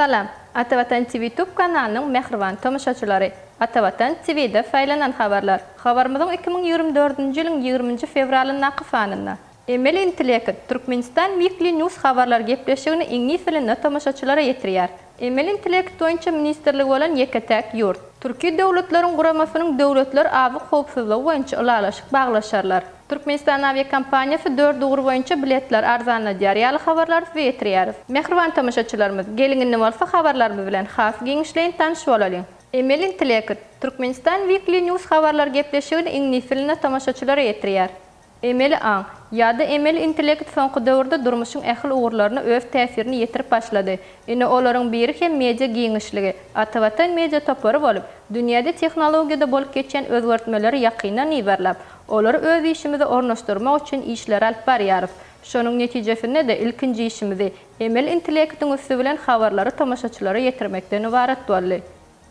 Salam! Atavatan TV tub kanalynyň mähriban tomaşaçylary! Atavatan TV-de saýlanan habarlar. Habarymyzyň iki müň ýigrimi dördünji ýylyň ýigriminji fewralyndaky sanynda. Emeli intellekt, Türkmenistan Weekly News habarlar gepleşigini iňlis dilinde tomaşaçylara ýetirýär. Emeli intellekt boýunça ministrligi bolan ýeke-täk ýurt. Türki Döwletleriň Guramasynyň döwletler azyk howpsuzlygy boýunça ylalaşyk baglaşarlar. Türkmenistan awiakompaniýasy dört ugur boýunça biletleri arzanladýar ýaly habarlary size ýetirýäris. Mähriban tomaşaçylarymyz, geliň indi bolsa habarlarymyz bilen has giňişleýin tanyş bolalyň. Emeli intellekt, Türkmenistan Weekly News habarlar gepleşigini iňlis dilinde tomaşaçylara ýetirýär. Emeli aň, ýa-da emeli intellekt soňky döwürde durmuşyň ähli ugurlaryna öz täsirini ýetirip başlady. Ine, olaryň biri hem media giňişligi, Atavatan Media topary bolup, dünýäde tehnologiýada bolup geçýän özgertmeleri ýakyndan yzarlap, olary öz işimize ornaşdyrmak üçin işleri alyp barýarys. Şonuň netijesinde-de ilkinji işimizi, emeli intellektiň üsti bilen habarlary tomaşaçylara ýetirmekden ybarat boldy.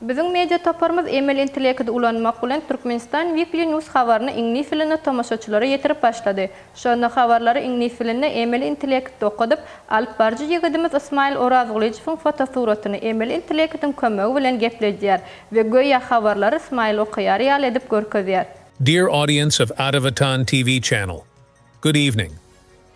Biziň media toparymyz emeli intellekidi ulanmak bilen Turkmenistan Weekly News habaryny iňlis dilinde tomaşaçylara ýetirip başlady. Şonda habarlary iňlis dilinde emeli intellektde okadyp, alypbaryjy ýigidimiz Ysmaýyl Orazgylyjowyň fotosuratyny emeli intellektiň kömegi bilen gepledýär we göýä habarlary Ysmaýyl okaýar ýaly edip görkezýär. Dear audience of Atavatan TV channel, good evening.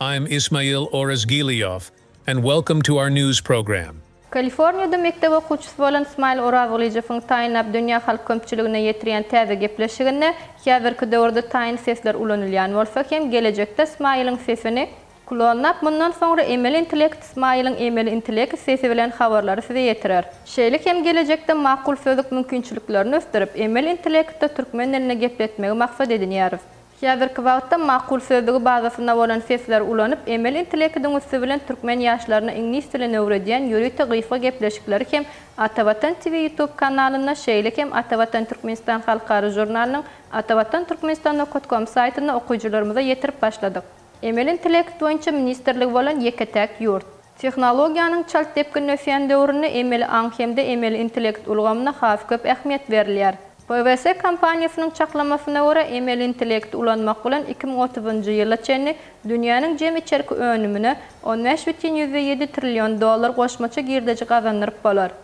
I am Ismail Orazgiliov and welcome to our news program. Kaliforniýada mekdep okuwçysy bolan Smile Orawgylyjowyň Taýyn Abdunýa halk köpçüligine ýetirýän täze gepleşiginde, Häzirki döwürde taýyn sesler ulanylýan bolsa hem, gelejekde Smile-iň sesini klonlap, mundan soňra emeli intellekt Smile-iň emeli intellekt sesi bilen habarlary size ýetirer. Şeýle hem gelejekde makul sözlük mümkinçiliklerini ösdürip, emeli intellektde türkmen dilinde gepletmegi maksat edinýäris. Häzirki wagtda makul sözlügi bazasynda bolan sesleri ulanyp, emeli intelekidiň üsti bilen türkmen ýaşlaryna iňlis dilini öwredýän ýörite gysga gepleşikleri hem Atavatan TV YouTube kanalynda, şeýle hem Atavatan Türkmenistan halkara žurnalynyň Atavatan Türkmenistan. Com saýtynda okyjylarymyza ýetirip başladyk. Emeli intellekt boýunça ministrligi bolan ýeke-täk ýurt. Tehnologiýanyň çalt depginde ösýän döwründe emeli aň hem-de emeli intellekt ulgamyna has köp ähmiýet berilýär. PWC kompaniýasynyň çaklamasyna görä, emeli intellekti ulanmak bilen iki müň otuzynjy ýyla çenli dünýäniň jem içerki önümine on bäş bütin ýüzde ýedi trillion dollar goşmaça girdeji gazandyryp bolar.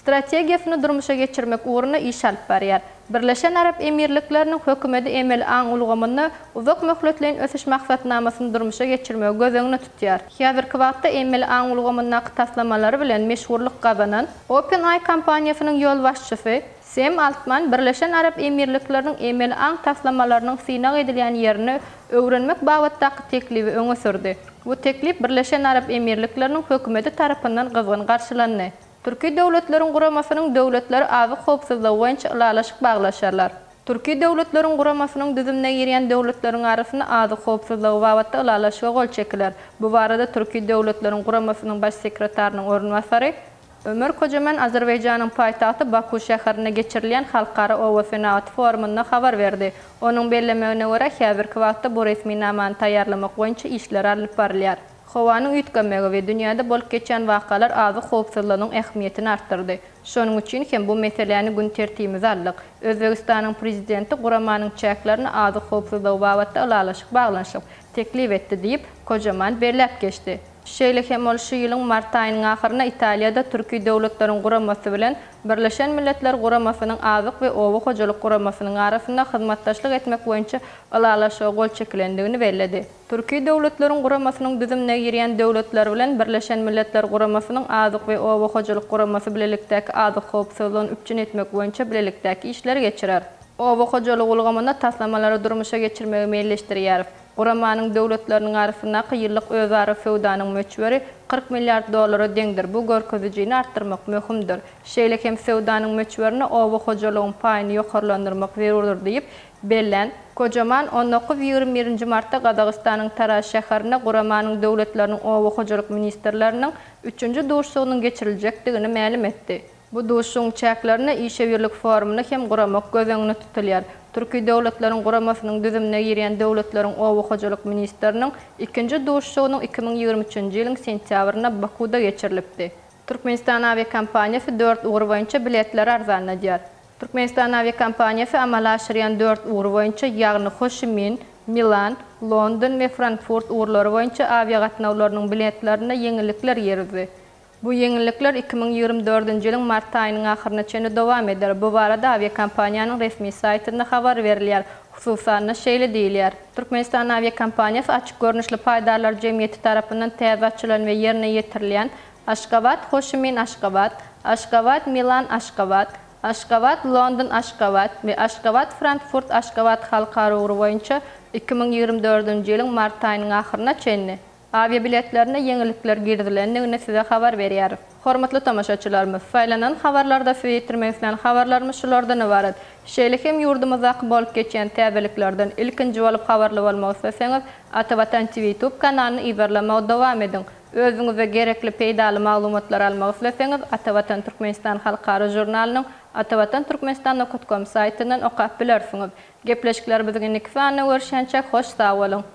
strategiýasyny durmuşa geçirmek ugrunda iş alyp barýar. Birleşen Arap Emirlikleriniň Hökümeti emeli aň ulgamynda uzak möhletleýin ösüş maksatnamasyny durmuşa geçirmegi göz öňünde tutýar. Häzirki wagtda emeli aň ulgamyndaky taslamalary bilen meşhurlyk gazanan OpenAI kompaniýasynyň ýolbaşçysy Sem Altman Birleşen Arap Emirlikleriniň emeli aň taslamalarynyň synag edilýän ýerini öwrenmek babatdaky teklibi öňe sürdi. Bu teklip Birleşen Arap Emirlikleriniň Hökümeti tarapyndan gyzgyn garşylandy. Türki Döwletleriň Guramasynyň döwletleri azyk howpsuzlygy boýunça ylalaşyk baglaşarlar. Türki Döwletleriň Guramasynyň düzümine girýän döwletleriň arasynda azyk howpsuzlygy babatda ylalaşyga gol çekiler. Bu barada Türki Döwletleriň Guramasynyň Baş sekretarynyň orunbasary Ömer Kojaman Azerbaýjanyň paýtagty Baku şäherinde geçirilýän Halkara oba senagaty forumynda habar berdi. Onuň bellemegine görä, häzirki wagtda bu resminamany taýýarlamak boýunça işler alnyp barylýar. Howanyň üýtgemegi we dünýäde bolup geçýän wakalar azyk howpsuzlygynyň ähmiýetini artdyrdy. Şonuň üçin hem bu meseläni gün tertibimize aldyk. Özbegistanyň Prezidenti guramanyň çäklerine azyk howpsuzlygy babatda ylalaşyk baglanyşyp, teklip etdi diýip, Kojaman belläp geçdi. Şeýle hem ol şu ýylyň mart aýynyň ahyrynda Italiýada Türki Döwletleriň Guramasy bilen Birleşen Milletler Guramasynyň Azyk we oba hojalyk guramasynyň arasynda hyzmatdaşlyk etmek boýunça ylalaşyga gol çekilendigini belledi. Türki Döwletleriň Guramasynyň düzümine girýän döwletler bilen Birleşen Milletler Guramasynyň Azyk we oba hojalyk guramasy bilelikdäki azyk howpsuzlygyny üpjün etmek boýunça bilelikdäki işleri geçirer. Oba hojalygy ulgamynda taslamalary durmuşa geçirmegi meýilleşdirýäris. Guramanyň döwletleriniň arasyndaky ýyllyk özara söwdanyň möçberi kyrk milliard dollara deňdir, bu görkezijini artdyrmak möhümdir. Şeýle hem söwdanyň möçberine oba hojalygyň paýyny ýokarlandyrmak zerurdyr diýip, Belent, gojaman on dokuz ýigrimi birinji martda Gazagystanyň Taraz şäherinde guramanyň döwletleriniň oba hojalyk ministrleriniň üçünji duşuşygynyň geçiriljekdigini mälim etdi. Bu duşuşygyň çäklerinde işewürlik forumyny hem guramak göz öňünde tutulýar. Türki Döwletleriň Guramasynyň düzümine girýän döwletleriň oba hojalyk ministriniň ikinji duşuşygynyň iki müň ýigrimi üçünji ýylyň sentýabrynda Bakuwda geçirilipdi. Türkmenistan awiakompaniýasy dört ugur boýunça biletleri arzanladýar. Türkmenistan awiakompaniýasy amala aşyrýan dört ugur boýunça, ýagny Ho Şi Min, Milan, London we Frankfurt ugurlary boýunça awiagatnawlarynyň biletlerine ýeňillikler girizdi. Bu ýeňillikler iki müň ýigrimi dördünji ýylyň mart aýynyň ahyryna çenli dowam eder, bu barada awiakompaniýanyň resmi saýtynda habar berilýär, hususan-da, şeýle diýilýär. Türkmenistan awiakompaniýasy açyk görnüşli paýdarlar jemgyýeti tarapyndan täze açylan we ýerine ýetirilýän Aşgabat, Hoşimin, Aşgabat, Aşgabat, Milan, Aşgabat, Aşgabat, London, Aşgabat we Aşgabat, Frankfurt, Aşgabat halkara ugry boýunça iki müň ýigrimi dördünji ýylyň mart aýynyň ahyryna çenli Awiabiletlerine ýeňillikler girizilendigini size habar berýäris. Hormatly tomaşaçylarymyz, saýlanan habarlarda size ýetirmek islän habarlarymyz şulardan ybarat. Şeýle hem ýurdumyzdaky bolup geçýän täzeliklerden ilkinji bolup habarly bolmak isleseňiz, Ata Watan TV YouTube kanalyny yzarlamagy dowam ediň. Özüňize gerekli peýdaly maglumatlary almak isleseňiz, Ata Watan Türkmenistan halkara žurnalynyň atawatanturkmenistan.com saýtyndan okap bilersiňiz. Gepleşiklerimiziň indiki sanynda görüşýänçäk hoş sag boluň!